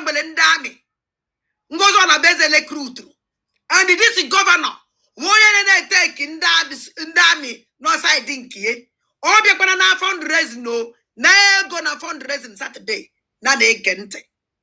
nwele ndị amị ngozi ọlabụeze rekrutụrụ and this gọvanọ nwa onye na-eteki ndị amị nọ said nke ya ọ bịakwa na fundraising o nye ego na fundraising satọde na na-ege ntị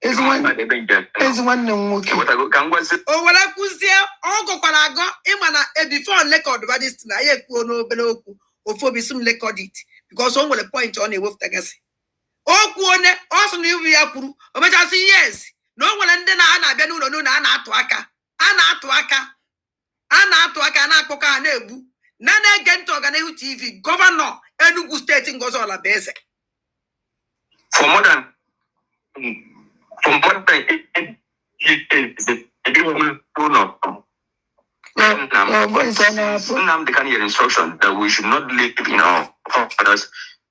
ezi nwa- Mmadụ ebe njem. ezi nwanne m nwoke Ewetago ka m gwazi o were kwuzie ọ gọkwara agọ ị ma na bifọ lekọd badist na ya ekwuo n'obere okwu ofu obi sị m lekọd it bikos o nwere point ọ na-ewepụtagasị o kwuo ne ọ sị na iwu ya kwuru o mechasị yes na o nwere ndị na a na-abịa n'ụlọ n'ụlọ a na-atụ aka a na-atụ aka a na-atụ aka na-akpọkọ ha na-egbu na na-ege ntị ọganihu tv gọvanọ enugu steeti ngozi ọlabụeze for more than for more than Nnamdi Kanu instruction that we should not live in our fathers